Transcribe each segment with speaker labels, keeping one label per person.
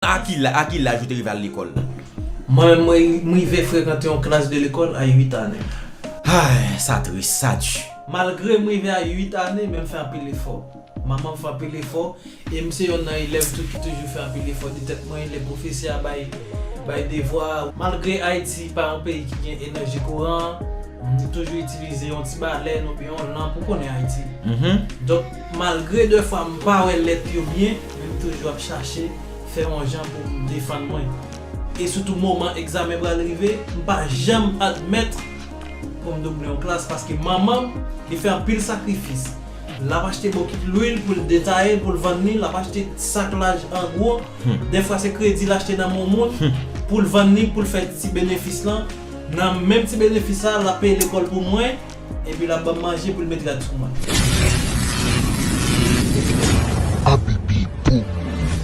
Speaker 1: A ki la, a ki laj ou te rive al lekòl la? Mwen, mwen,
Speaker 2: m rive frekante yon klas de lekòl a 8 ane. Hay,
Speaker 1: sa tris, sa di. Malgre m rive a
Speaker 2: 8 ane, men m fè anpil efò. Manman m fè anpil efò, e m se yonn nan elèv tou ki toujou fè anpil efò di tèt mwen lè pwofesè a bay, bay devwa. Malgre Ayiti pa yon peyi ki gen enèji kouran, nou toujou itilize yon ti balèn oubyen yon lanp, ou konnen Ayiti. Donk. Malgre de fwa m pa wè lèt yo byen men m toujou ap chache fè yon jan pou m defann mwen. E sitou moman egzamen pral rive m pa janm admèt pou m double yon klas paske manman m li fè anpil sakrifis l ap achte bokit lwil pou l detaye pou l vann li l ap achte sak laj an gwo de fwa se kredi l achte nan men yon moun pou l vann li pou l fè ti benefis lan nan menm ti benefis sa l ap peye lekòl pou mwen. Epi lap banm manje poul met rad sou mwen. Abibi pou
Speaker 1: mouri.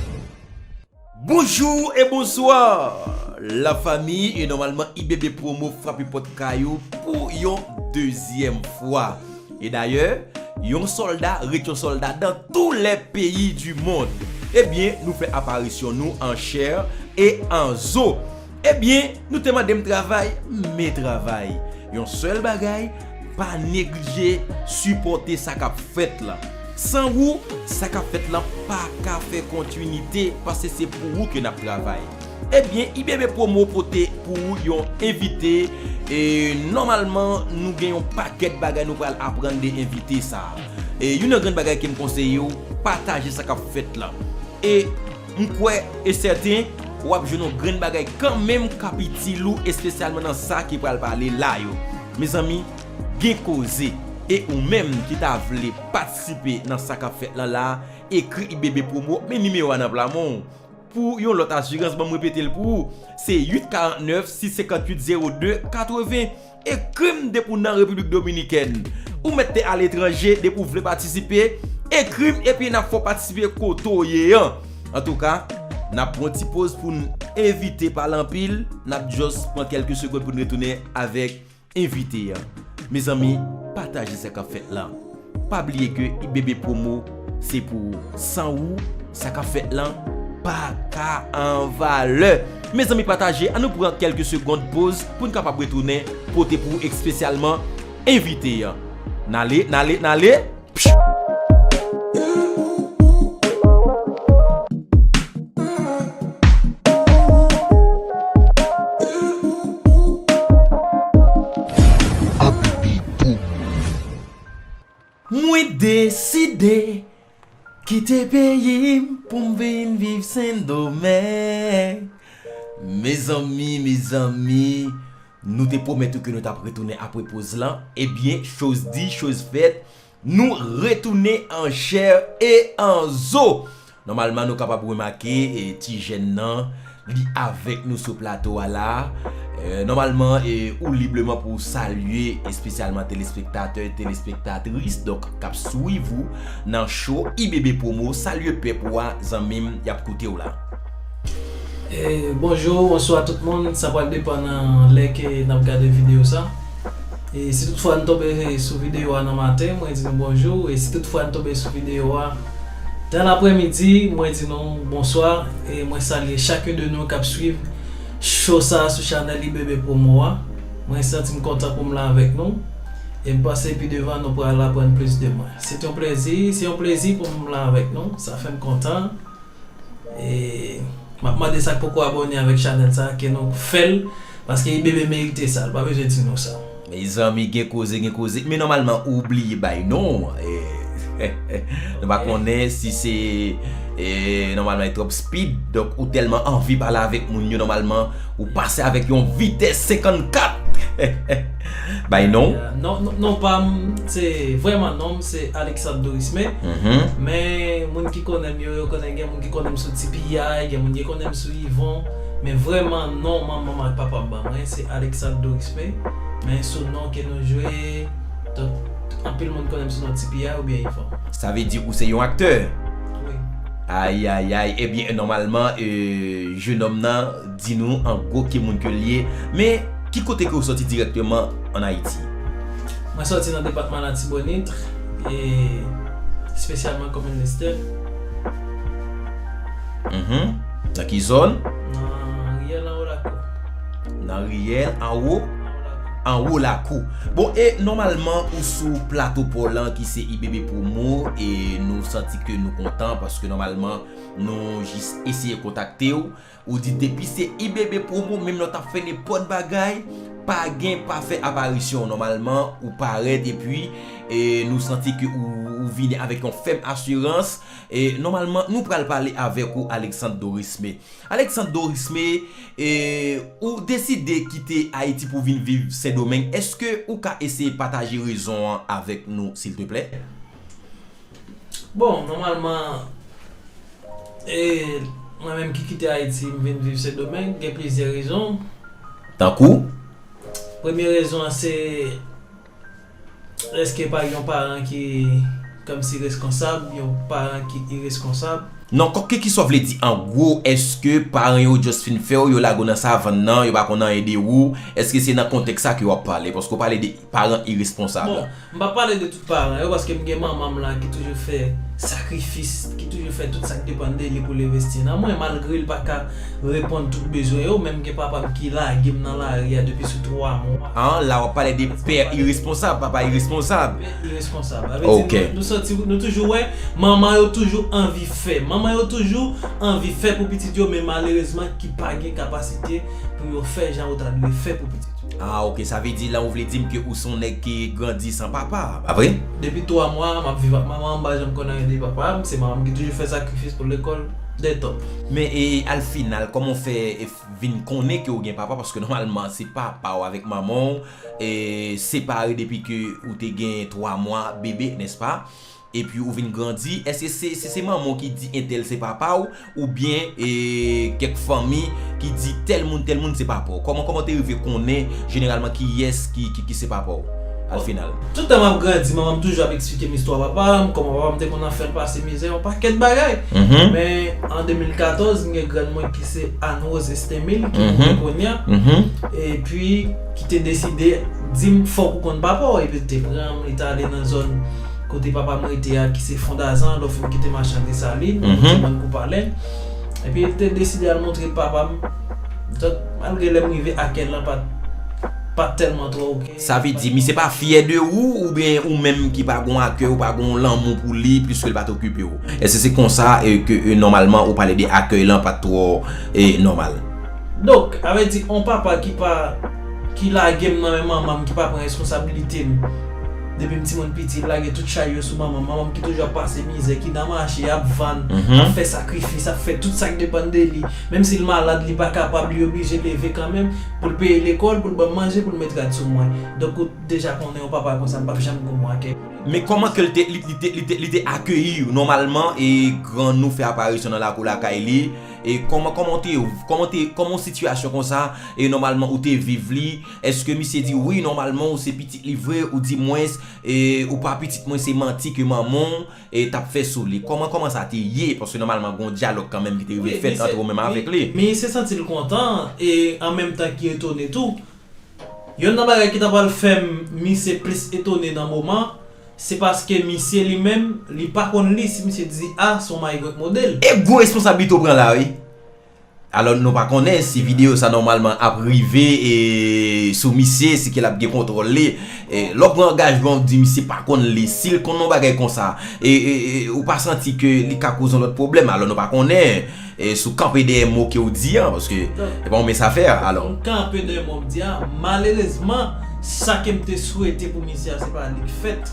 Speaker 1: Bonjour et bonsoir la famille et normalement ibb promo frape pot kay ou pou yon dezyem fwa et d'ailleurs yon solda ret yon solda dans tous les pays du monde et bien nou fè aparisyon nou en chair et en zo Ebyen, nou te mande m travay, m me travay. Yon sèl bagay, pa neglije sipòte sa k ap fèt lan. San ou, sa k ap fèt lan pa ka fè kontinite pase se pou ou ke n ap travay. Ebyen, IBB Promo pote pou ou yon envite e nòmalman nou gen yon pakèt bagay nou pral aprann de envite sa a. E youn nan grenn bagay ke m konseye ou, pataje sa k ap fèt lan. E. M kwè e sèten w ap jwenn yon grenn bagay kanmenm k ap itil ou espesyalman nan sa ki pral pale la yo. Mezanmi, gen koze! E ou menm ki ta vle patisipe nan sa k ap fèt lan la, ekri ibbpromo, men nimewo a nan pla men w pou yon lòt asirans, ban m repete l pou ou, se 8 49 6 58 02 80. Ekrim depi w nan Repiblik Dominikèn. Ou mèt te aletranje depi w vle patisipe, ekrim epi nap fè w patisipe kote w ye an. Antouka, nap pran yon ti poz pou n envite pale anpil, nap jòs pran kèlke segond pou n retounen avèk envite an. Mezanmi, pataje sa kap fèt la. Pa bliye ke ibbpromo se pou ou. San ou, sa kap fèt lan pa ka an valè. Mezanmi pataje, an nou pran kelke segond poz poun kapab retounen pote pou ou ekspesyalman envite an. Nale, nale, nale! Mwen deside kite peyi m pou m vin viv sendomeng mezanmi mezanmi nou te pwomèt ou ke nou tap retounen apre poz lan ebyen choz di choz fèt nou retounen an chè e an zo Nòmalman nou kapab remake ti jèn nan li avèk nou sou plato a la. Nòmalman ou libreman pou ou salye espesyalman telespektatè, telespektatris donk k ap swiv ou nan cho Ibebepromo. Salye pèp ou a zanmi m y ap koute w la. Bonjou,
Speaker 2: bonswa tout moun, sa pral depan nan lè ke n ap gade videyo sa. E si tout fwa n tonbe sou videyo a nan maten, mwen di nou bonjou. E si tout fwa n tonbe sou videyo a. Dan lapremidi mwen di nou bonswa e mwen salye chakun de nou kap swiv show sa sou chanèl Ibebe Promo a. Mwen santim kontan poum la avèk nou e m panse pi devan nou pral aprann plis de mwen. Se t yon plezi, se yon plezi poum la avèk nou, sa fèm kontan e map mande sak poko abòne avèk chanèl sa ke nou fèl paske Ibebe merite sa, l pa bezwen di nou sa. Mezanmi gen
Speaker 1: koze gen koze men nòmalman ou bliye bay non Nou pa konnen si se nòmalman e twòp speed donk ou tèlman anvi pale avèk moun yo nòmalman ou pase avèk yon vitès 54 Bay non w
Speaker 2: Non pam se vrèman non m se Alexandre Dorisme men moun ki konnen m yo yo konnen gen moun ki konnen m sou Ti Piyay gen moun ki konnen m sou Yvon men vrèman non manman m ak papa m ban mwen se Alexandre Dorisme. Wi, men sou non ke nou jwe, donk anpil moun konnen m sou non Ti Piya oubyen Yvon. Sa vle di ou se yon
Speaker 1: aktè? Wi.
Speaker 2: Ayayay,
Speaker 1: ebyen nòmalman jenòm nan di nou an gwo ki moun ke l ye, men ki kote ke ou sòti dirèkteman an Ayiti? Mwen sòti
Speaker 2: nan depatman Latibonit, e espesyalman komin Lestè.
Speaker 1: Nan ki zòn? Nan Riyèl anwo lakou.
Speaker 2: Nan riyèl anwo,
Speaker 1: anwo lakou. Bon e nòmalman ou sou plato paw lan ki se IBB promo e nou santi ke nou kontan paske nòmalman nou jis eseye kontaktew ou di depi se IBB promo menm lè w tap fè nenpòt bagay pa gen pa fè aparisyon nòmalman ou parèt epi e nou santi ke ou vini avèk yon fèm asirans e nòmalman nou pral pale avèk ou Alexandre Dorisme. Alexandre Dorisme, ou deside kite Ayiti pou vin viv Sendomeng, èske ou ka eseye pataje rezon an avèk nou silteplè? Bon,
Speaker 2: nòmalman, mwen menm ki kite Ayiti m vin viv Sendomeng, gen plizyè rezon. Tankou?
Speaker 1: Premye
Speaker 2: rezon an se. Eske pa gen yon paran ki kòmsi reskonsab, yon paran ki ireskonsab? Non, kòk ke kiswa
Speaker 1: vle di an gwo, eske paran yo just fin fè w, yo lage w nan savann nan, yo pa konn anyen de ou, eske se nan kontèks sa ke w ap pale? Paske w pale de paran iresponsab. Bon, m pa pale
Speaker 2: de tout paran yo paske m gen manman m la ki toujou fè sakrifis, ki toujou fè tout sa k depann de li pou l envesti nan mwen malgre l pa ka Reponn tout bezwen yo, menm gen papa m ki lage m nan lari a depi sou 3 mwa. An, la w ap pale de
Speaker 1: pè iresponsab, papa iresponsab. Pè iresponsab. A
Speaker 2: vle di nou santi,
Speaker 1: nou toujou
Speaker 2: wè manman yo toujou anvi fè. Manman yo toujou anvi fè pou pitit yo men malerezman ki pa gen kapasite pou yo fè jan yo ta dwe fè pou pitit yo. A ok, sa vle di
Speaker 1: la ou vle di m ke ou se yon nèg ki grandi san papa, pa vre? Depi 3 mwa, m
Speaker 2: ap viv ak manman m, m pa janm konn anyen de papa m, se manman m ki toujou fè sakrifis pou lekòl. Très top. Men e al
Speaker 1: final koman w fè vin konnen ke w gen papa paske nòmalman se papa w avèk manman w separe depi ke ou te gen 3 mwa bebe nèspa epi ou vin grandi èske se se manman w ki di entèl se papa w oubyen e kèk fanmi ki di tèl moun tèl moun se papa w kòman kòman w te rive konnen jeneralman kiyès ki se papa w? Au final. Tout tan map grandi
Speaker 2: manman m toujou ap eksplike m istwa papa m, kòman papa m te konn ap fè l pase mizè, yon pakèt bagay. Men, an 2014, m gen grann mwen ki se Anne Rose Estemil, ki mouri kounye a, epi ki te deside di m fòk ou konn papa w, epi l te pran m, li t ale nan zòn kote papa m rete a ki se Fondazan, lè w fin kite Machan Desalin, kote bann kou palen, epi l te deside al montre papa m, donk malgre lè m rive Aken lan pat tèlman twò ok. Sa vle di misye pa
Speaker 1: fyè de ou oubyen ou menm ki pa gon akèy ou pa gon lanmou pou li pliske'l pat okipe ou. Èske se konsa ke nòmalman ou pale de akèy lan pat twò nòmal? Donk,
Speaker 2: a vle di on papa ki pa ki lage'm nan men manman'm ki pa pran reskonsabilite'm depi'm timoun piti li lage tout chay yo sou manman'm, manman'm ki toujou ap pase mizè, ki nan mache ap vann, ap fè sakrifis, ap fè tout sak depann de li, menm si li malad li pa kapab li oblije leve kanmenm. Pou l peye lekòl, pou l ban m manje, pou l met rad sou mwen. Donk ou deja konnen yon papa konsa m p ap janm gou mwen ak li. Men kòman ke l
Speaker 1: te, li te, li te, li te akeyi ou? Nòmalman e grann ou fè aparisyon nan lakou lakay li e kòman, kòman ou te, kòman ou te, kòman yon sitiyasyon konsa e nòmalman ou te viv li? Èske misye di ou wi nòmalman ou se pitit li vre ou di mwens e ou pa pitit mwen se manti ke manman w e tap fè sou li kòman kòman sa te ye paske nòmalman gon dyalòg kanmenm ki te rive fèt antre ou menm avèk li. Mi se santi l kontan
Speaker 2: e an menm tan ki etone tou. Yonn nan bagay ki ta pral fè misye plis etone nan moman se paske misye li menm li pa konn li si misye di a son maigret model. E gwo responsablite ou
Speaker 1: pran la wi. Alò nou pa konnen si video sa nòmalman ap rive sou misye, si ke l ap gen kontwòl li. Lè w pran angajman ou di misye pa konn li, si l konn yon bagay konsa, ou pa santi ke li ka koze yon lòt pwoblèm? Alò nou pa konnen si w kanpe dèyè mo ke w di an, paske se pa yon mens afè alò. M kanpe dèyè mo m di
Speaker 2: an. Malerezman, sa ke m te swete pou misye a se pa li k fèt.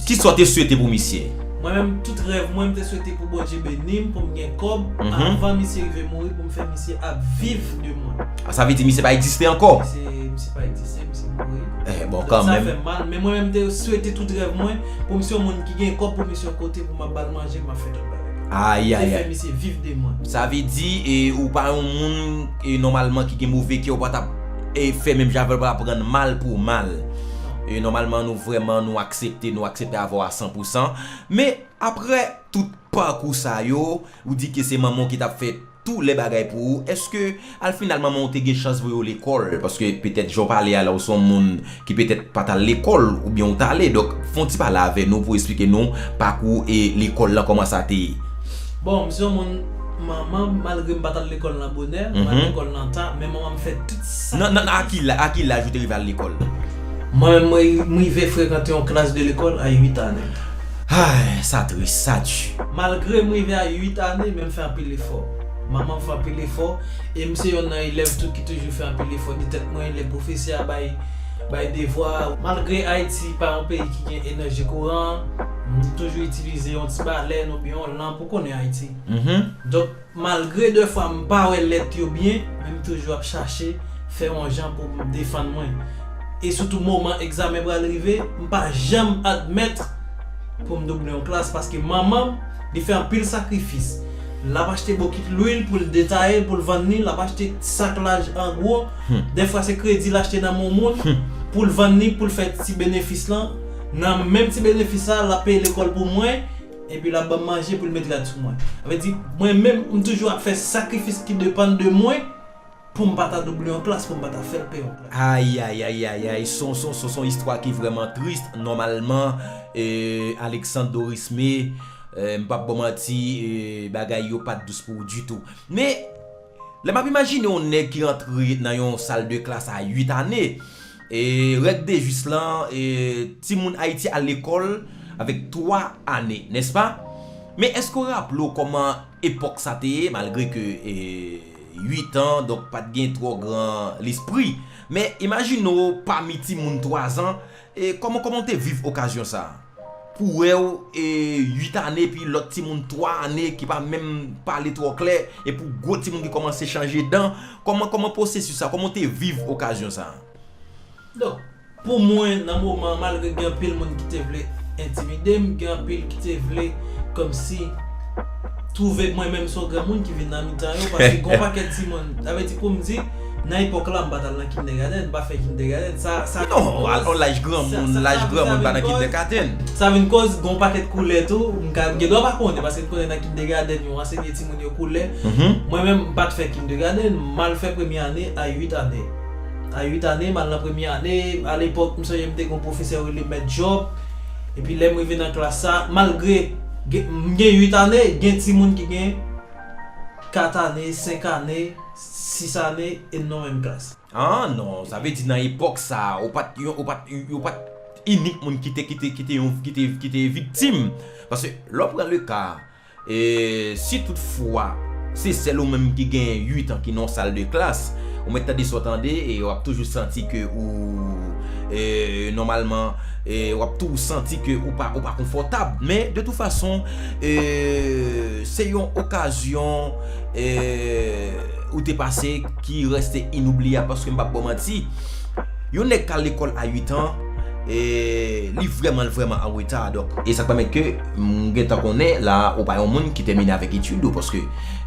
Speaker 2: Kisa w te
Speaker 1: swete pou misye? Mwen menm tout rèv
Speaker 2: mwen m te swete pou Bondye beni m pou m gen kòb avan misye rive mouri pou m fè misye ap viv de mwen. Ah sa vle di misye pa egziste
Speaker 1: ankò? Misye misye pa egziste
Speaker 2: misye mouri. Eh bon kanmenm. Donk sa fè m mal
Speaker 1: men mwen menm m te
Speaker 2: swete tout rèv mwen pou misye yon moun ki gen kòb pou misye yon kote pou m ap bal manje m ap fè tout bagay. Ayayay. M te fè misye viv
Speaker 1: de mwen.
Speaker 2: Sa vle di e
Speaker 1: ou pa yon moun e nòmalman ki gen move kè ou pa tap e fè menm jan avè l ou pa tap rann mal pou mal. e nòmalman nou vrèman nou aksepte nou aksepte avè w a san pou san men aprè tout pakou sa yo ou di ke se manman w ki tap fè tou lè bagay pou ou eske al final manman w te gen chans voye w lekòl paske petèt jan w pale a la ou se yon moun ki petèt pa t al lekòl oubyen ou t ale donk fè yon ti pale avè nou pou w esplike nou
Speaker 2: pakou
Speaker 1: e lekòl lan kòman sa
Speaker 2: te
Speaker 1: ye. Bon m
Speaker 2: se yon
Speaker 1: moun
Speaker 2: manman m malgre m pa t al lekòl nan bonè m al lekòl nan ta men manman m fè tout Nan nan a ki la a ki
Speaker 1: laj ou te rive al lekòl? Mwen menm mwen
Speaker 2: m rive frekante yon klas de lekòl a 8 ane. Hay!
Speaker 1: Sa tris, sa du. Malgre m rive a
Speaker 2: 8 ane men m fè anpil efò. Manman m fè anpil efò e m se yonn nan elèv tou ki toujou fè anpil efò di tèt mwen lè pwofesè a bay bay devwa. Malgre Ayiti pa yon peyi ki gen enèji kouran, m toujou itilize yon ti balèn oubyen yon lanp ou konnen Ayiti. Donk Malgre de fwa m pa wè lèt yo byen, men m toujou ap chache fè yon jan pou m defann mwen. E sitou moman egzamen pral rive, m pa janm admèt pou m double yon klas paske manman m, li fè anpil sakrifis. L ap achte bokit lwil pou l detaye l, pou l vann li, l ap achte sak laj an gwo, de fwa se kredi l achte nan men yon moun pou l vann li pou l fè ti benefis lan. Nan menm ti benefis sa, l ap peye lekòl pou mwen. Epi lap banm manje poul met rad sou mwen. Sa vle di mwen menm m toujou ap fè sakrifis ki depann de mwen poum pa ta double yon klas, poum pa ta fèl pè yon klas. Ayayayayayay
Speaker 1: sonson sonson istwa ki vrèman trist nòmalman euh Alexandre Dorismé euh m pap baw manti euh bagay yo pat dous pou ou ditou men Lè m ap imajine yon nèg ki rantre nan yon sal de klas a 8 ane, e règ de jis lan, e timoun Ayiti al lekòl avèk 3 ane, nèspa? Men èske w raple w kòman epòk sa te ye, malgre ke 8 an, donk pa t gen twò gran lespri, men imajine w pami timoun 3 zan, e kòman kòman w te viv okazyon sa a? Pou wèw 8 ane epi lòt timoun 3 ane ki pa menm pale twò klè e pou gwo timoun ki kòmanse chanje dan, kòman kòman pwosesis sa, kòman ou te viv okazyon sa a? Donk,
Speaker 2: pou mwen nan moman an malgre gen anpil moun ki te vle entimide m, gen anpil ki te vle kòmsi twouve mwen menm se yon granmoun ki vin nan mitan yo paske gen yon pakèt timoun, sa vle di pou m di. Nan epòk la m pa t al nan kindègadenn, m pa fè kindègadenn. Sa vin kòz. Non, al nan laj
Speaker 1: granmoun, laj granmoun pa nan kindègadenn. Sa vin kòz gen
Speaker 2: yon pakèt koulè tou, m ka, m gen dwa pa konnen paske m konnen nan kindègadenn yo ansenye timoun yo koulè. Mwen menm m pa t fè kindègadenn, m al fè premye ane a 8 ane. A 8 ane m al nan premye ane, alepòk m sonje m te gen yon pwofesè yo rele mèt Jòb, epi lè m rive nan klas sa, malgre m gen 8 ane, gen timoun ki gen 4 ane, 5 ane. 6 ane e n nan menm klas. Ah non, sa
Speaker 1: vle di nan epòk sa a, ou pat yon, ou pat, ou pat inik moun ki te, ki te, ki te yon, ki te, ki te viktim. Paske lè w pran le ka, si tout fwa se sèl ou menm ki genyen 8 an ki nan yon sal de klas, ou mèt tande sa w tande e w ap toujou santi ke ou, nòmalman, w ap tou santi ke ou pa, ou pa konfòtab. Men, de tout fason, se yon okazyon. ou te pase ki reste inoubliyab paske m pap baw manti yon nèg kal lekòl a 8 an li vrèman vrèman an reta donk e sa pèmèt ke m gen tan konnen la ou pa yon moun ki tèmine avèk etid ou paske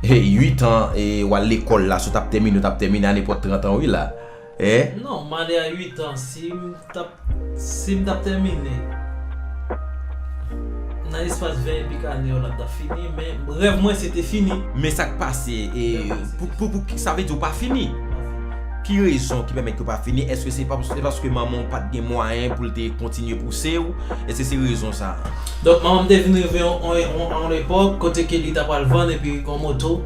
Speaker 1: 8 an e wal lekòl la sou tap tèmine ou tap tèmine a nenpòt 30 an wi la. eh. Non m ale
Speaker 2: a 8 an si m tap si m tap tèmine nan espas 20 e pik ane yo la m tap fini men rèv mwen se te fini. Men sa k pase
Speaker 1: e pou pou sa vle di ou pa fini? Ki rezon ki pèmèt ke ou pa fini èske se paske manman w pat gen mwayen pou l te kontinye pouse w èske se rezon sa a? Donk manman m te vin
Speaker 2: rive yon epòk kote ke li ta pral vann epi yon moto.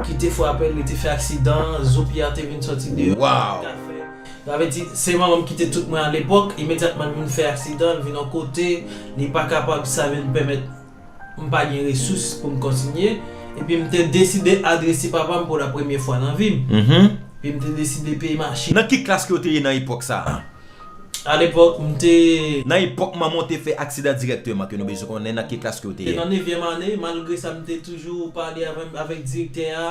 Speaker 2: ki te frape l, li te fè aksidan, zo pye a te vin sòti deyò, li pa t ka fè.
Speaker 1: Sa vle di,
Speaker 2: se manman m ki te tout mwen alepòk, imedyatman li vin fè aksidan, li vin yon kote, li pa kapab, sa vin pèmèt m pa gen resous pou m kontinye. Epi m te deside adrese papa m pou la premye fwa nan vi m. Epi m te deside peye machin. Nan ki klas ke w te ye nan
Speaker 1: epòk sa a? A lepòk
Speaker 2: m te. Nan epòk manman w
Speaker 1: te fè aksidan dirèkteman ke nou bezwen konnen nan ki klas ke w te. Te nan nevyèm ane,
Speaker 2: malgre sa m te toujou pale avèk direktè a,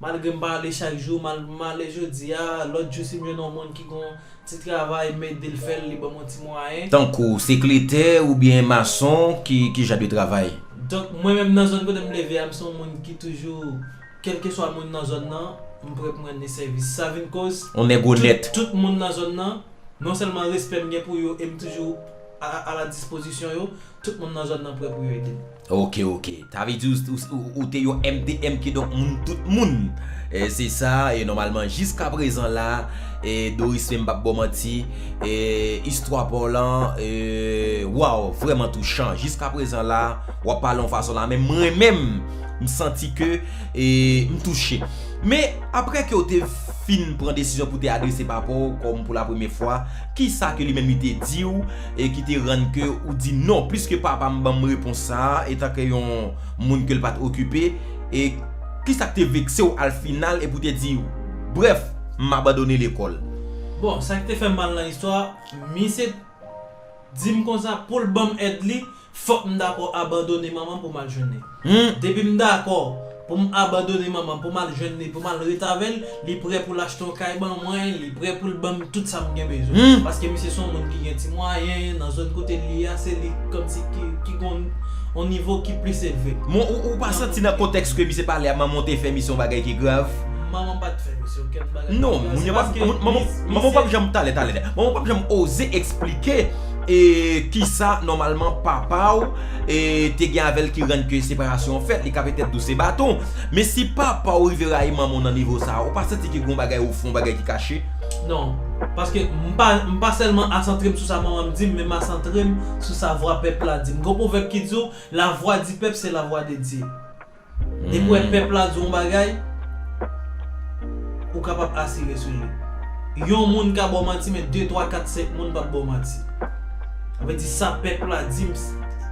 Speaker 2: malgre m pa ale chak jou, malgre m ale jodi a, lòt jou si m jwenn yon moun ki gen yon ti travay m ede l fè l, li ban m yon ti mwayen. Tankou, sekretè
Speaker 1: oubyen mason, ki jan de travay? Donk mwen menm
Speaker 2: nan zòn kote m leve a m se yon moun ki toujou. Kèlkeswa moun nan zòn nan, m prè pou m rann li sèvis. Sa vin koz, tout
Speaker 1: moun nan zòn nan,
Speaker 2: non sèlman respè m gen pou yo e m toujou aladispozisyon yo, tout moun nan zòn nan prè pou yo ede m. Ok, ok.
Speaker 1: Sa vle di ou te yon MDM kidonk moun tout moun. Se sa e nòmalman jiskaprezan la e Doris Fe m pap ba w manti e istwa pa w lan e waww vrèman touchan. Jiskaprezan la, w ap pale yon fason la men m renmen m. M santi ke m touche. Men, apre ke w te fin pran desizyon pou w te adrese papa w kòm pou la premye fwa, kisa ke li menm li te di w e ki te rann ke ou di non, piske papa m ban m repons sa a etan ke yon moun ke l pa t okipe, e kisa k te vekse w al final e pou w te di brèf, m abandone lekòl? Bon, sa ki te
Speaker 2: fè m mal nan istwa a, misye di m konsa pou l ban m èd li, Fòk m dakò abandone manman m pou m al jwenn li. Depi m dakò pou m abandone manman m pou m al jwenn li pou m al ret avè l, li prè pou l achte yon kay ban mwen, li prè pou l ban m tout sa m gen bezwen. Paske misye se yon moun ki gen ti mwayen, nan zòn kote l ye a se li kòmsi ki gen yon nivo ki plis elve. Men ou pa santi
Speaker 1: nan kontèks ke misye pale a manman w te fè misye yon bagay ki grav? Manman m pa t fè
Speaker 2: misye okenn bagay ki grav.
Speaker 1: Non, manman w pa p janm talè talè. Manman w pa p janm oze esplike. E kisa nòmalman papa ou te gen avèl ki rann ke separasyon an fèt, li ka petèt dou se baton. Men si papa ou rive rayi manman ou nan nivo sa, ou pa santi ke gen yon bagay ou fè, yon bagay ki kache? Non.
Speaker 2: Paske m pa m pa sèlman asantre m sou sa manman m di m, men m asantre m sou sa vwa pèp la di m. Gen yon pwovèb ki di w, la voix du peuple c'est la voix de Dieu. Depi w wè pèp la di w yon bagay, ou kapab asire sou li. Yon moun ka ba w manti men 2, 3, 4, 5 moun pap ba w manti. Sa vle di sa pèp la di m,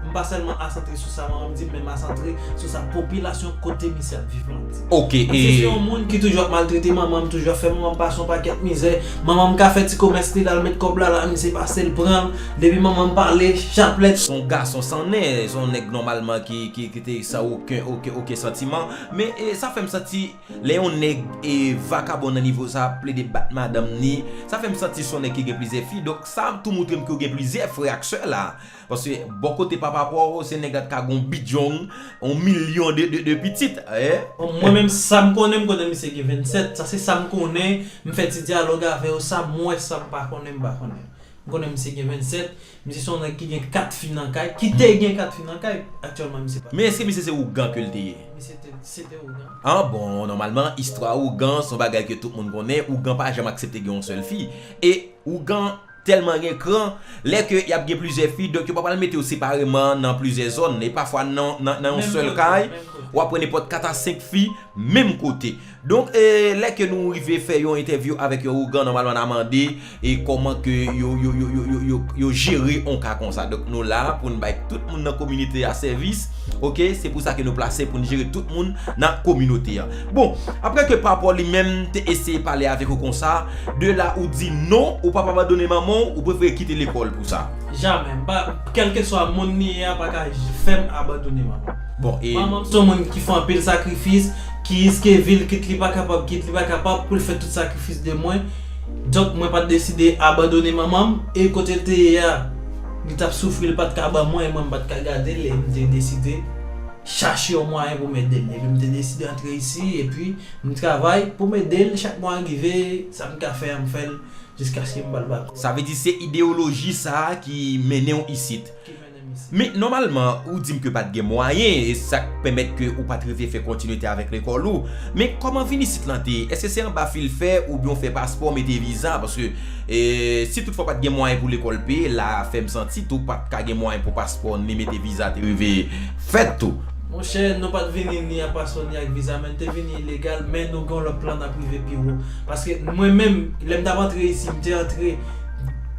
Speaker 2: m pa sèlman asantre sou sa manman m di m men m asantre sou sa popilasyon kote misye ap viv lan di. Misye se
Speaker 1: yon moun ki
Speaker 2: toujou ap maltrete manman m, toujou ap fè manman m pase yon pakèt mizè. Manman m ka fè ti komès li, l al met kòb la la, misye pase l pran l. Depi manman m pale, chaplèt. S on gason san
Speaker 1: nen, s on nèg nòmalman ki. te san oken oken oken santiman men sa fèm santi lè yon nèg vakabon nan nivo sa ap plede bat madanm ni sa fèm santi son nèg ki gen plizyè fi donk sa tou moutrem ke ou gen plizyè frè ak sè la paske bò kote papa paw se nèg la t ka gen yon bidjong yon milyon de de de pitit e. Mwen menm
Speaker 2: sam konnen m konnen misye gen 27 sa se sam konnen m fè ti dyalòg avèw sam wè sam pa konnen m pa konnen m konnen misye gen 27 Misye se yon nèg ki gen 4 fi nan kay, ki te gen 4 fi nan kay, aktyèlman misye pa. Men eske misye se ougan ke
Speaker 1: l te ye? Misye te, se te
Speaker 2: ougan. An bon, nòmalman,
Speaker 1: istwa ougan se yon bagay ke tout moun konnen, ougan pa janm aksepte gen yon sèl fi. E, ougan tèlman gen kran, lè ke y ap gen plizyè fi, donk yo pa pral mete yo separeman nan plizyè zòn, e pafwa nan, nan yon sèl kay, w ap wè nenpòt 4 a 5 fi menm kote. Donk, lè ke nou rive fè yon entèvyou avèk yon ougan, nòmalman na mande e kòman ke yo, yo, yo, yo, yo, yo jere yon ka konsa. Donk nou la pou n bay tout moun nan kominite a sèvis, ok, se pou sa ke nou plase pou n jere tout moun nan kominote a. Bon, aprè ke papa li menm te eseye pale avèk ou konsa, de la ou di non, ou pap abandone manman w, ou prefere kite lekòl pou sa. Jamè, m pa,
Speaker 2: kèlkeswa moun li ye a pa ka fè m abandone manman m. Bon e. Manman m son
Speaker 1: moun ki fè
Speaker 2: anpil sakrifis, ki riske vi l kit li pa kapab kit li pa kapab pou l fè tout sakrifis de mwen. Donk mwen pa t deside abandone manman m e kote l te ye a li t ap soufri li pa t ka ban mwen e mwen m pa t ka gade l e m te deside chache yon mwayen pou m ede l. Epi m te deside antre isi epi m travay pou m ede l chak mwa rive sa m ka fè a m fè l jiskaske m ba l baton. Sa vle di se
Speaker 1: ideyoloji sa a ki mennen w isit? Men nòmalman ou dim ke pat gen mwayen e sak pèmèt ke ou pat rive fè kontinite avèk lekòl ou, men kòman vin isit lan te ye? Eske se anba fil fè oubyen ou fè paspò mete viza paske si tout fwa pat gen mwayen pou lekòl peye la a fèm santi tou pat ka gen mwayen pou paspò ni mete viza te rive fèt tou. Monchè nou pat
Speaker 2: vini ni ak paspò ni ak viza men n te vini ilegal men nou gen yon lòt plan nap rive pi wo paske mwen menm lèm tap antre isi m te antre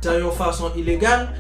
Speaker 2: dan yon fason ilegal,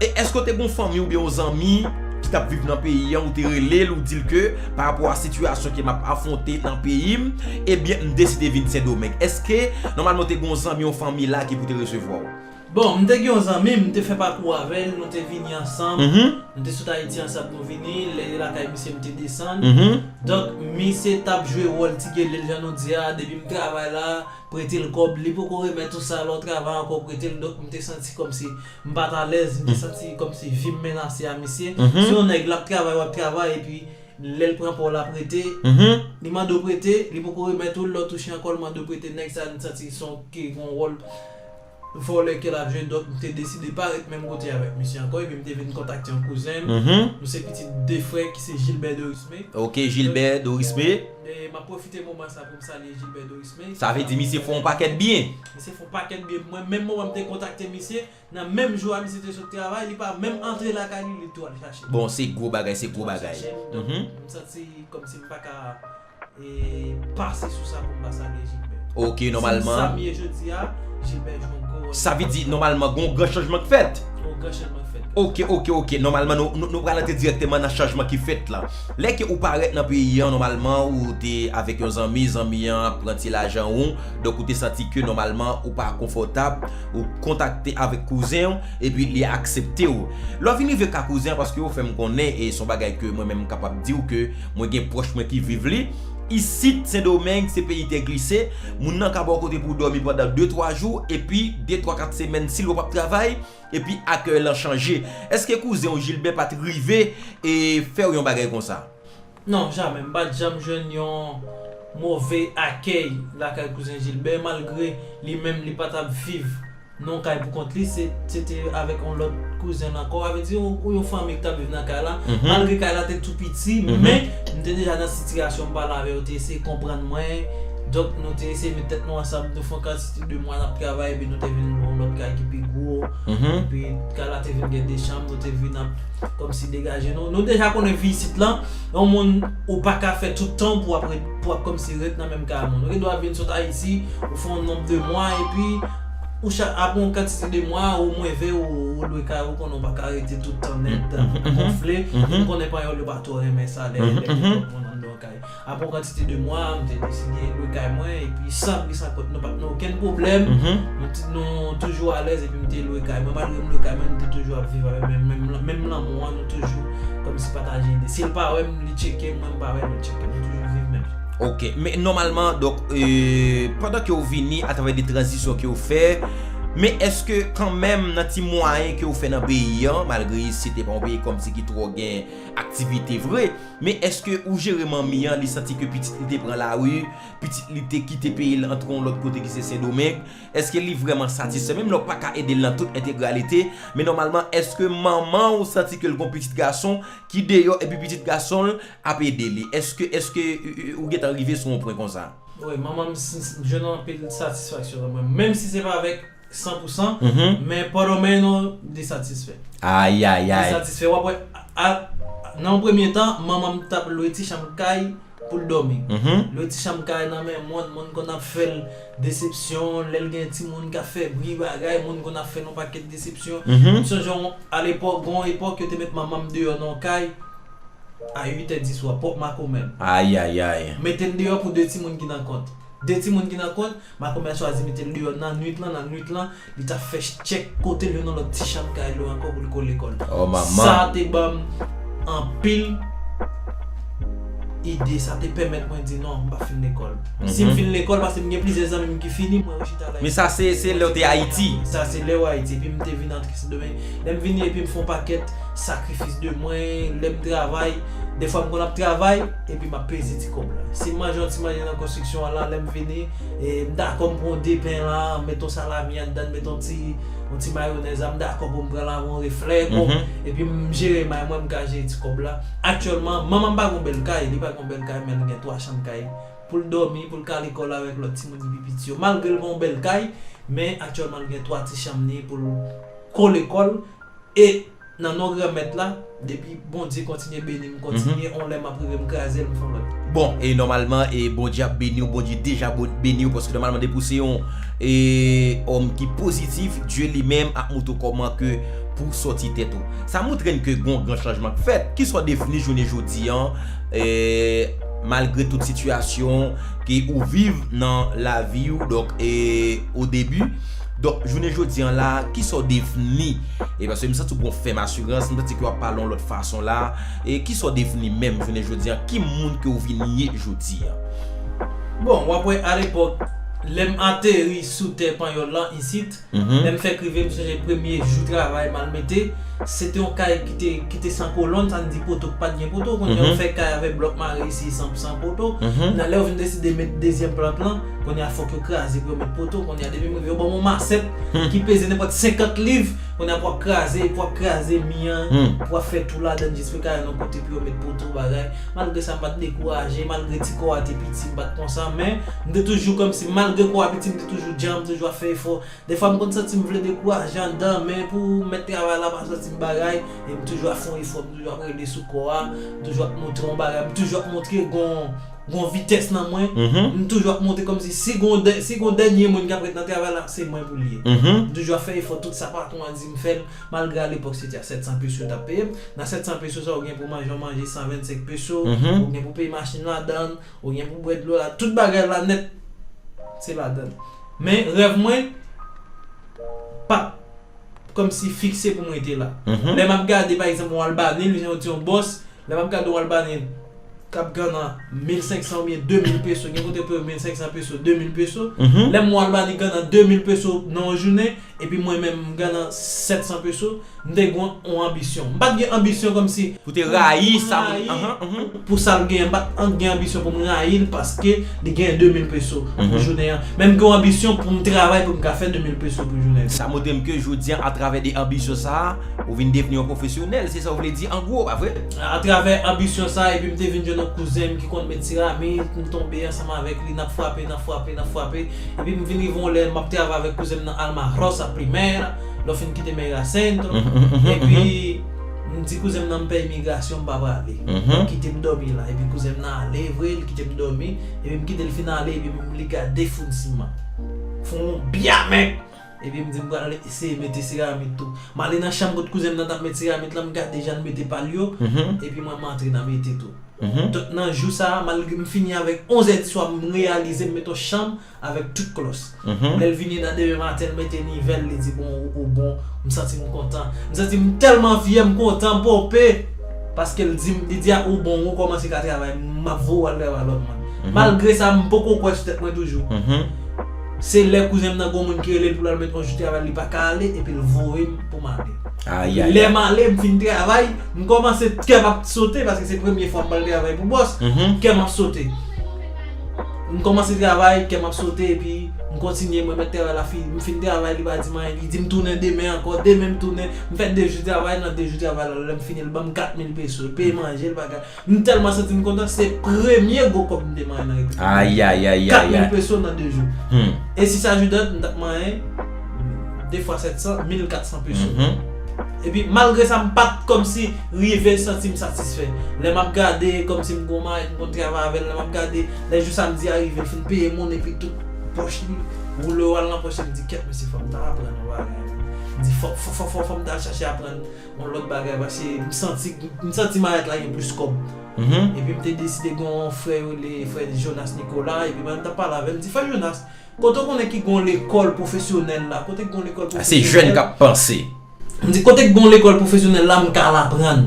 Speaker 1: E èske w te gen yon fanmi oubyen yon zanmi ki t ap viv nan peyi an, ou te rele l ou di l ke pa rapò a sitiyasyon ke m ap afwonte nan peyi m, ebyen m deside vin Sendomeng? Èske nòmalman ou te gen yon zanmi, yon fanmi la ki pou te resevwa w? Bon, m te gen yon
Speaker 2: zanmi, m te fè pakou avè l, nou te vini ansanm, nou te sot Ayiti ansanm nou vini, lè li lakay misye m te desann. Donk, misye t ap jwe wòl ti gele l jan nou di a, depi m travay la, prete l kòb, li poko remèt ou sa, lè w travay ankò prete l, donk m te santi kòmsi M pat alèz, m te santi kòmsi vi m menase a misye. Se yon nèg l ap travay w ap travay epi lè l pran pa w l ap rete, li mande w prete li poko remèt ou l lè w touche ankò l mande w prete nèg sa m santi son ke gon wòl vòlè ke l ap jwe donk m te deside pa ret menm kote avèk misye ankò epi m te vin kontakte yon kouzen m nou se pitit 2 frè ki se Gilbert Dorismé Ok Gilbert
Speaker 1: Dorismé. M ap pwofite
Speaker 2: moman sa pou m salye Gilbert Dorismé. Sa vle di misye fè yon
Speaker 1: pakèt byen. Misye fon pakèt bgy
Speaker 2: pou mwen, menm moman m te kontakte misye, nan menm jou a misye te sot travay, li pa menm antre lakay li, li tou al chache m. Bon se gwo bagay, se
Speaker 1: gwo bagay. Li tou al chache m, donk m santi
Speaker 2: kòmsi m pa ka pase sou sa pou m pa salye Jilbè. Ok, nòmalman. Si m sa
Speaker 1: m ye jodi a,
Speaker 2: Jilbè jwe yon gwo wòl. Sa vle di
Speaker 1: nòmalman gen yon gran chanjman k fèt? Gen yon gran chanjman k fèt. Ok, ok, ok, nòmalman nou pral antre dirèkteman nan chanjman ki fèt lan. Lè ke ou parèt nan peyi an nòmalman ou te avèk yon zanmi, zanmi an ap pran ti lajan ou, Donk ou te santi ke nòmalman ou pa konfòtab, ou kontakte avèk kouzen ou, epi li aksepte ou. Lè w vin rive ka kouzen an, paske ou fè m konnen, e se yon bagay ke mwen menm m kapab di w ke mwen gen pwòch mwen ki viv li, isit Sendomeng se peyi tè glise, moun nan ka ba w kote pou w dòmi pandan de twa jou, epi de twa kat semèn si l wè w ap travay, epi akèy lan chanje. Èske kouzen w Jilbè pa t rive e fè w yon bagay konsa? Non, jamè. M
Speaker 2: pa t janm jwenn yon move akèy lakay kouzen Jilbè, malgre li menm li pa t ap viv nan yon kay pou kont li, se te avèk yon lòt kouzen l ankò, avè di ou yon fanmi ki t ap viv nan kay la, malgre kay la te tou piti, men m te deja nan sitiyasyon m pale avè yo, yo te eseye konprann mwen, donk nou te eseye met tèt nou ansanm, nou fè yon kantite de mwa n ap travay, epi nou te vin lwe yon lòt kay ki pi gwo, epi kay la te vin gen de chanm, nou te vin ap. Komsi degaje non. Nou deja konnen vi isit lan, yon moun ou pa ka fè tout tan pou ap komsi ret nan menm kay moun. Ou gen dwa vin sot Ayiti, ou fè yon nonb de mwa epi ou chak apre yon kantite de mwa ou mwen ve ou lwe kay ou konnen ou pa ka rete tout tan nèt gonfle. Nou konnen panyòl yo pa twò renmen sa lè gen twòp moun anndan yon kay. Apre yon kantite de mwa, m te deside lwe kay mwen epi san bri san kont nou pa t nan okenn pwoblèm. Nou toujou alèz epi m te lwe kay mwen. Malgre m lwe kay mwen, nou te toujou ap viv avèk menm lanmou an. Nou toujou kòmsi pataje ide. Si l pa wè m, li tcheke m, mwen m pa wè l, li tcheke m. Nou toujou viv menm jan. Ok. Men
Speaker 1: nòmalman, donk, pandan ke ou vini atravè de tranzisyon ke ou fè, men èske kanmenm nan ti mwayen ke ou fè nan peyi an, malgre isit se pa yon peyi kòmsi ki twò gen aktivite vre, Men eske ou jere manmi an li santi ke pitit li te pran lari, pitit li te kite peyi l antre yon lòt kote ki se Sendomeng, eske li vrèman satisfè menm lè w pa ka ede l nan tout entegralite, men nòmalman eske manman ou santi ke l gon pitit gason ki deyò epi pitit gason l ap ede li? Eske eske ou gentan rive sou yon pwen konsa? Wi manman m
Speaker 2: jwenn anpil satisfaksyon nan mwen menm si se pa avèk 100 pou 100 men pòdòmè nou li satisfè ayayay
Speaker 1: li satisfè wap wè
Speaker 2: nan yon premye tan manman m tap lwe ti chanm kay pou l dòmi lwe ti chanm kay nan men moun moun konn ap fè l desepsyon lè l gen ti moun kap fè bri bagay moun konn ap fè l yon pakèt desepsyon m sonje yon alepòk gen yon epòk yo te met manman m deyò nan yon kay a 8 è di swa pòp makomè l ayayay
Speaker 1: mete l deyò
Speaker 2: pou 2 ti moun ki nan kont 2 ti moun ki nan kont. Makomè a chwazi mete l deyò nannuit lan, nannuit lan, li t ap fè chèk kote l yo nan lòt ti chanm kay li yo ankò pou l kole kò l. Sa te
Speaker 1: ban m
Speaker 2: anpil ide, sa te pèmèt mwen di non, m pa fin lekòl. Si m fin lekòl, paske m gen plizyè zanmi m ki fini, mwen rechita al Ayiti. Men sa se lè w te
Speaker 1: Ayiti? Sa se lè w Ayiti.
Speaker 2: Epi m te vin antre Sendomeng. Lè m vini epi m fè yon pakèt sakrifis de mwen, lè m travay, dèfwa m konn ap travay, Epi map peze ti kob la. Sim manje yon ti manje nan konstriksyon an la lèm vini m dakò m pran yon de pen la m met yon salami anndan m met yon ti yon ti mayonèz la m dakò pou m pran la yon reflè bon epi m jere may mwen m ka jere ti kob la. Aktyèlman manman m pa gon bèl kay li pa gon bèl kay men li gen 3 chanm kay pou l dòmi pou l ka lekòl avèk lòt timoun ki pi piti yo malgre l pa yon bèl kay men aktyèlman l gen 3 ti chanm li pou l ko lekòl e Nan non granmèt la depi bondye kontinye benim kontinye on lè map rive m krazel m fon lòt. Bon e nòmalman
Speaker 1: e bondye ap beniw bondye deja beniw paske nòmalman depi ou se yon e òm ki pozitif dye li menm ap moutre w kòman ke pouw sòti tèt ou sa moutrem ke gon gran chanjman k fèt kisa w devni jounen jodi an e malgre tout sitiyasyon ke ou viv nan laviw donk e o debi Donk, jounen jodi an la a, kisa w devni? E paske m santi w gen yon fèm asirans, m santi ke w ap pale yon lòt fason la a. E kisa w devni menm jounen jodi an? Ki moun ke w
Speaker 2: vin
Speaker 1: ye jodi
Speaker 2: an? Bon,
Speaker 1: w ap wè alepòk, lè
Speaker 2: m ateri sou tè panyòl lan isit, lè m fèk rive m sonje premye jou travay m al mete, se te yon kay ki te ki te san kolòn, sa n di poto ki pa t gen poto, kounye a ou fè kay avèk blòk mare isi san poto, nan lè ou vin deside mete dezyèm plant lan, Kounye a fòk yo kraze pou yo met poto, kounye a depi m rive yo ban m yon masèt ki peze nenpòt 50 liv, kounye a pou ap kraze, pou ap kraze mi an, pou ap fè tou ladan jiske kay an yon kote pou yo met poto bagay. Malgre sa m pa t dekouraje, malgre ti kò a te piti m pa t konsa men, m te toujou kòmsi malgre kò a piti m te toujou djanm, toujou ap fè efò. Dèfwa m konn santi m vle dekouraje anndan men pou mèt travay la pa soti m bagay e m toujou ap fè yon efò, m toujou ap rele sou kò a, m toujou ap montre yon bagay, m toujou ap montre gen yon. Gon vitès nan mwen, m toujou ap monte kòmsi si gon si gon dènye moun kap ret nan travay la, se mwen pou l ye. M toujou ap fè efò tout sa patwon an di m fè l, malgre a lepòk se te a 700 peso yo tap peye m. Nan 700 peso sa ou gen pou manje yon manje 125 peso, ou gen pou peye machin ladan l, ou gen pou bwè dlo la, tout bagay la nèt se ladan l. Men rèv mwen pap kòmsi fikse pou m rete la. Lè map gade pa egzanp yon Albanil, jan ou di yon bòs. Lè map gade ou al ba nèg kap ganna 1500 oubyen 2000 peso gen kote payo 1500 peso 2000 peso lèm wè al ba nèg ganna 2000 peso nan yon jounen epi mwen menm m ganna 700 peso m te gen yon anbisyon m pat gen anbisyon kòmsi Pou te rayi sa
Speaker 1: moun nan anhan. pou sal
Speaker 2: genyen m pat gen anbisyon pou m rayil paske li genyen 2000 peso pou jounen an men m gen yon anbisyon pou m travay pou m ka fè 2000 peso pou jounen an. Sa montre m ke jodi
Speaker 1: an atravè de anbisyon sa ou vin devni yon pwofesyonèl. Se sa w vle di an gwo, pa vre? Atravè anbisyon sa a,
Speaker 2: epi m te vin jwenn yon kouzen m ki konn met siramit, m tonbe ansanm avèk li, n ap frape, n ap frape, n ap frape, epi m vin rive yon lè m ap travay avèk kouzen m nan Alma Rosa Primera, lè w fin kite Meira Centro, epi m di kouzen m nan m pè imigrasyon m pa prale, yo kite m dòmi la, epi kouzen m nan ale vre, li kite m dòmi, epi m kite l fin ale, epi m li gade foun siman, foun bya mèg! Epi m di m pral eseye mete seramit tou. M ale nan chanm kot kouzen m nan t ap met seramit lan, m gade jan l mete pa l yo, epi mwen m antre nan mete tou. Donk nan jou sa a, malgre m fini avèk onzè di swa, m reyalize m met yon chanm avèk tout klòs. Lè l vini nan demen maten, l mete nivel, li di bon ou bon, m santi m kontan. M santi m tèlman fyè, m kontan, m ponpe! Paske l di m, li di a ou bon, ou kòmanse ka travay, m ap voye w al travay lòt moun. Malgre sa, m poko kwè sou tèt mwen toujou. Se lè kouzenm nan gon moun ki relel poul al met on jou travay li paka ale epil voyem poum ale. Epi lèm ale m fin travay m kòmanse kèm ap sote paske se premye fwa m pral travay pou bòs kèm ap sote m kòmanse travay kèm ap sote epi m kontinye mwen mèt travay la fi m fin travay li pa dim anyen li dim tounen demen ankò demen m tounen m fè 2 jou travay nan 2 jou travay la lèm fini li banm 4000 peso li peye manje li bagay M telman santim kontan se premye gwo kob m te manyen nan repiblik dominiken 4000
Speaker 1: peso nan 2
Speaker 2: jou e si sa jou dat m tap manyen 2 fwa 700 1400 peso epi malgre sa m pat komsi rive santim satisfè lè map gade komsi m gon mayi m konn travay avèl lè map gade lè jou samdi a rive l fin peye moun epi tout poch li woule yo al nan poch li m di kèt mesye fòm ta aprann yon bagay m di fòm fòm fòm fòm ta chache aprann Yon lòt bagay pase m santi m santi mayèt la gen plis kòb epi m te deside gen yon frè yo rele frè Jonas Nicolas epi mayèt m t ap pale avè l m di frè Jonas kote w konnen ki gen yon lekòl pwofesyonèl la kote ki gen yon lekòl pwofesyonèl
Speaker 1: m di kote ki
Speaker 2: gen yon lekòl pwofesyonèl la m ka al aprann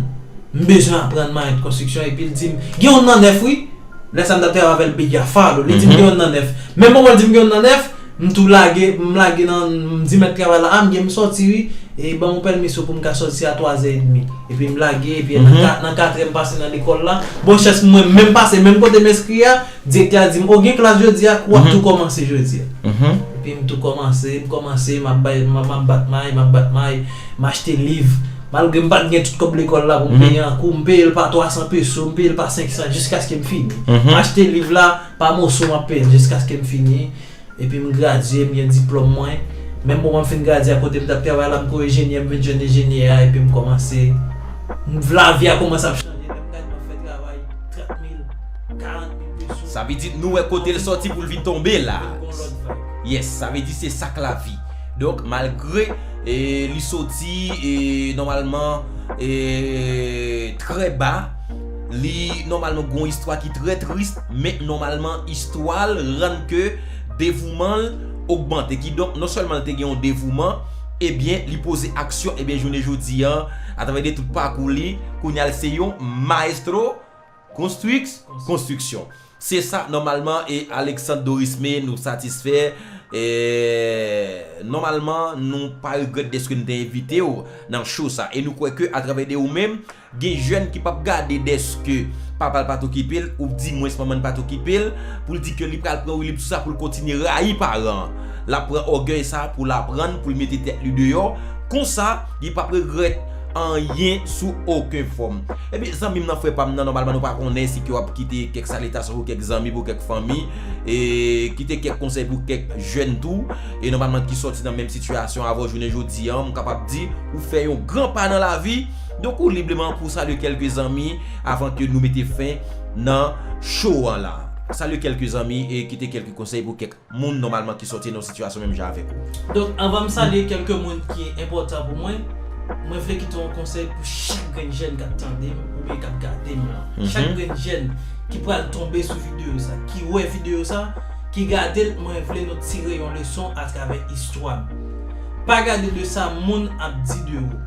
Speaker 2: m bezwen aprann mayèt konstriksyon epi l di m gen yon nan nèf wi. Lè sa m t ap travay avè l Bigya Fado, li di m gen yon nan nèf. Menm moman l di m gen yon nan nèf, m tou lage, m lage nan, m di mèt travay la, a m gen m sòti wi, e ban m yon pèmisyon pou m ka sòti a twazè edmi. Epi m lage, epi nan katrè m pase nan lekòl la, bon chans mwen menm pase menm kote m enskri a, direktè a di m, o gen klas jodi a, ou ap tou kòmanse jodi a. Epi m tou kòmanse, m kòmanse, m ap bay, m ap bat may, m ap bat may, m achte liv. Malgre m pat gen tout kòb lekòl la pou m peye an kou, m peye l pa 300 peso, m peye l pa 500 jiskaske m fini. M achte liv la pa moso m ap peye l jiskaske m fini. Epi m gradye, m gen diplòm mwen. Menm moman m fin gradye a kote m t ap travay la m ko enjenyè, m vin jwenn enjenyè a epi m kòmanse. Lavi a kòmanse ap chanje lè m gade m ap fè travay 30 mil, 40 mil peso. Sa vle di nou wè kote
Speaker 1: l sòti pou l vin tonbe la. Yes, sa vle di se sa k lavi. Donk malgre li soti nòmalman trè ba, li nòmalman gen yon istwa ki trè tris men nòmalman istwa l rann ke devouman l ogmante. Kidonk non sèlman l te gen yon devouman ebyen li poze aksyon ebyen jounen jodi an atravè de tout pakou li kounye a l se yon maestro Konstwix, konstwiksyon. Se sa nòmalman e Alexandre Dorismé nou satisfè e nòmalman nou pa regrèt deske nou te envitew nan show sa e nou kwè ke atravè de ou menm gen jèn ki pap gade deske papal pat okipel ou di mwens manmann pat okipel poul di ke li pral pran woulib sou sa poul kontinye rayi paran an lap pran ògèy sa poul aprann poul mete tèt li deyò konsa li pap regrèt anyen sou oken fòm. Epi zanmi m nan frè pa m nan nòmalman nou pa konnen si ke w ap kite kèk salitasyon pou kèk zanmi pou kèk fanmi e kite kèk konsèy pou kèk jèn tou e nòmalman ki sòti nan menm sitiyasyon avè w jounen jodi an m kapab di ou fè yon gran pa nan lavi donk ou libreman pou w salye kèlke zanmi avan ke nou mete fen nan show an la salye kèlke zanmi e kite kèlke konsèy pou kèk moun nòmalman ki sòti nan yon sitiyasyon menm jan avèk ou. Donk anvan m salye
Speaker 2: kèlke moun ki enpòtan pou mwen, mwen vle kite yon konsèy pou chak grenn jèn k ap tande m oubyen k ap gade m lan. Chak grenn jèn ki pral tonbe sou videyo sa, ki wè videyo sa, ki gade l mwen vle nou tire yon leson atravè istwa m. Pa gade de sa moun ap di de ou.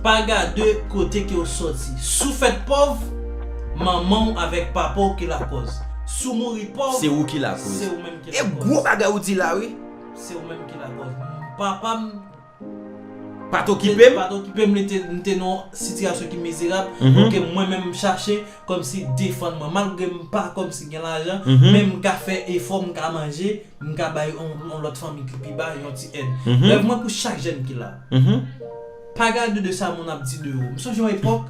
Speaker 2: Pa gade kote ke w sòti. Si w fèt pòv, manman w avèk papa w ki lakòz. Si w mouri pòv, se ou ki
Speaker 1: lakoz. E gwo
Speaker 2: bagay ou di la wi.
Speaker 1: Se ou menm ki
Speaker 2: lakoz. Papa m
Speaker 1: pa t okipe m, li te
Speaker 2: nan yon sitiyasyon ki mizerab, ke mwen menm m chache kòmsi defann mwen. Malgre m pa kòmsi gen lajan, men m ka fè efò, m ka manje, m ka bay yon lòt fanmi ki pi ba yon ti èd. Rèv mwen pou chak jèn ki la, pa gade de sa moun ap di de ou. M sonje yon epòk,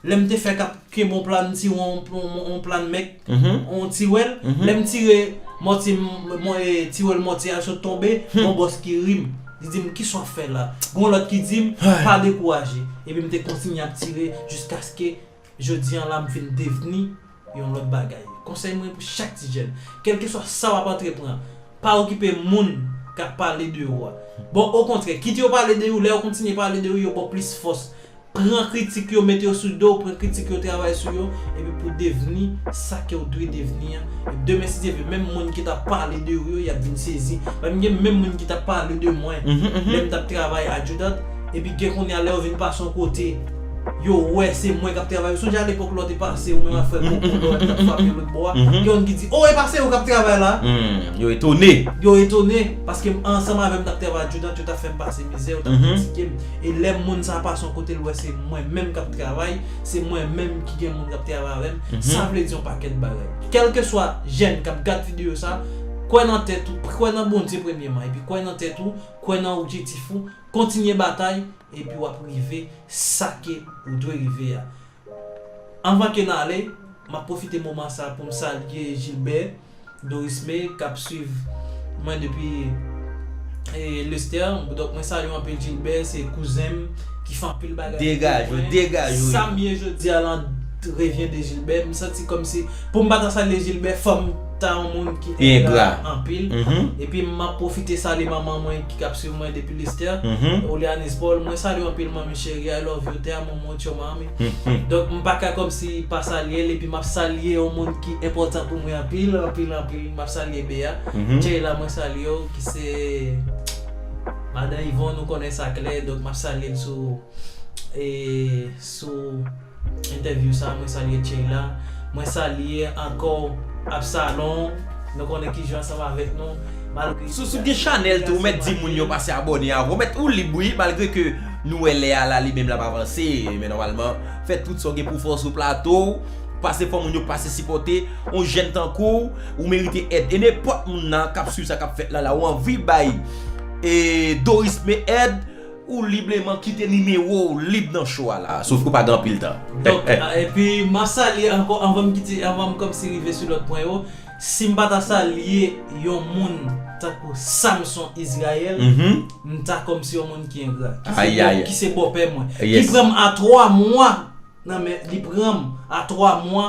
Speaker 2: Lè m te fèk ap kenbe yon plann ti won, yon plann mèk, yon tiwèl, lè m tire mòtye m, tiwèl mòtye a sot tonbe, yon bòs ki ri m, li di m, kisa w fè la? Gen yon lòt ki di m, pa dekouraje. Epi m te kontinye ap tire jiskaske jodi an la m fin devni. yon lòt bagay. Konsèy mwen pou chak ti jèn, kèlkeswa sa wap antrepran, pa okipe moun kap pale de ou a. Bon okontrè, kit yo pale de ou, lè yo kontinye pale de ou, yo baw plis fòs. Pran kritik yo, mete yo sou dow, pran kritik yo, travay sou yo, epi pou devni sa kew dwe devni an. E demen si Dye vle, menm moun ki tap pale de ou yo, yap vin sezi. Paske gen menm moun ki tap pale de mwen lèm tap travay Adjudant, epi gen kounya lè yo vin pase yon kote, Yo wè se mwen kap travay, ou sonje a lepok lò te pase ou menm ak frè Koko lò li tap frape lòt bò a, gen youn ki di, oh e pa se ou kap travay la? Yo etone.
Speaker 1: Yo etone, paske
Speaker 2: m ansanm avè m tap travay ak Judant, yo tap fè m pase mizè, yo tap kritike m, e lè moun sa pase yon kote l wè se mwen menm kap travay, se mwen menm ki gen moun kap travay avè m, sa vle di yon pakèt bagay. Kèlkeswa jèn kap gad videyo sa, kwè nan tèt ou, kwè nan Bondye premyeman, epi kwè nan tèt ou, kwè nan objektif ou, kontinye batay, epi wap rive sake ou dwe rive a. Anvan ke n ale, map pwofite moman sa pou m salye Gilbert Dorismé kap swiv mwen depi Lestèr. Donk mwen salye w anpil Gilbert, se kouzen m ki fè anpil bagay pou mwen.
Speaker 1: Sa m ye jodi
Speaker 2: a lan revyen de Gilbert. M santi kòmsi pou m pa ta salye Gilbert fò m ta yon moun ki engra anpil. Epi map pwofite salye manman mwen. ki ap swiv mwen depi Listè, Olianis Paul, mwen salye w anpil manmi cheri I love you, te amo mucho mami. Donk m pa ka kòmsi pa salye l epi m ap salye yon moun ki enpòtan pou mwen anpil, anpil, anpil, m ap salye Bea. Cheila mwen salye w ki se madan Yvon nou konnen sa klè donk m ap salye l sou sou. entèvyou sa mwen salye Tcheila mwen salye ankò Absalon nou konnen ki jwe ansanm avèk nou malgre Sous ou gen chanèl
Speaker 1: tou ou mèt di moun yo pase abòne avèw ou mèt ou lib wi malgre ke nou wè lè a la li menm lap avanse men nòmalman fè tout sa ou gen pouw fè sou plato ou pase fò moun yo pase sipòte yon jèn tankouw ou merite èd e nenpòt moun nan kap swiv sa kap fèt la la ou anvi bay Doris Me èd Ou libleman kite nimewo w lib nan show a la a, sof ke w pa gen anpil tan. Donk, epi
Speaker 2: m ap salye ankò anvan m kite, anvan m kòmsi rive sou lòt pwen yo, si m pa ta salye yon moun tankou Samson Israël, m ta kòmsi yon moun ki engra. Ayayay. Ki se bòpè mwen. Ki pran m a 3 mwa nan men, li pran m a 3 mwa.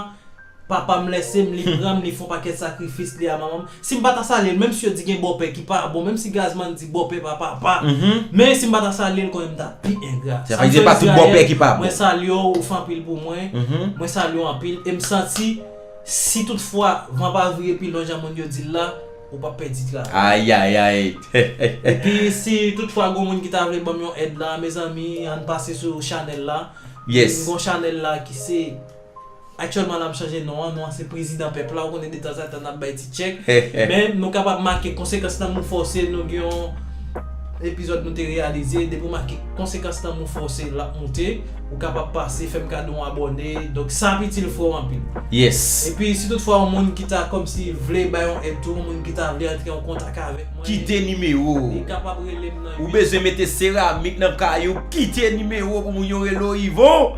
Speaker 2: Papam lèsem li pranm li fon pakèt sakrifis li a manmanm sim pata salyel menm si yo di gen bòpè ki pa bon menm si gazman di bòpè pa papa men sim pata salyel konnen m tap pi engra sam fè izrayèl
Speaker 1: mwen salyew ou fè
Speaker 2: anpil pou mwen mwen salyew anpil em santi si tout fwa van pa vire pi lwen jan moun yo dil la ou pap pèdi travay
Speaker 1: epi
Speaker 2: si tout fwa gon moun ki ta vle banm yon èd la mezanmi ann pase sou chanèl la m gon chanèl la ki se. Aktyèlman nap chanje non an, non an se prezidan pèp la, ou konnen detanzantan nap bay ti tchèk, men nou kapab make konsekans lanmou fòse nou gen yon epizòd nou te reyalize, depi ou make konsekans lanmou fòse lap moute, ou kapab pase fèm kado yon abòne, donk sa ap itil frè w anpil. Yes. Epi si
Speaker 1: tout fwa
Speaker 2: yon moun ki ta kòmsi vle bay yon èd tou, yon moun ki ta vle antre an kontak avèk mwen, Kite nimewo ou.
Speaker 1: li kapab rele m
Speaker 2: nan Ou bezwen mete
Speaker 1: seramik nan kay ou, kite nimewo pou moun yo rele w Yvon.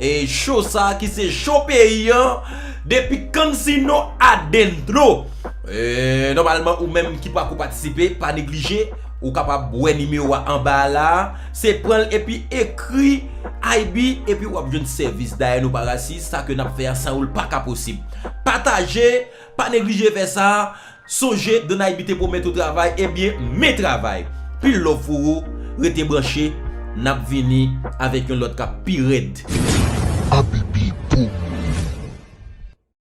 Speaker 1: E show sa ki se show peyi an depi Cansino adentro Eee nòmalman ou menm ki pako patisipe pa neglije ou kapab wè nimewo a anba a la a se pran l epi ekri IB epi wap jwenn sèvis dayè nou pa rasis sa ke nap fè a san ou l paka posib Pataje pa neglije fè sa. Sonje Donaiby te pwomèt ou travay ebyen men travay pil love pou ou rete branche nap vini
Speaker 3: avèk
Speaker 1: yon lòt kap pi rèd. Abibi pou mwen.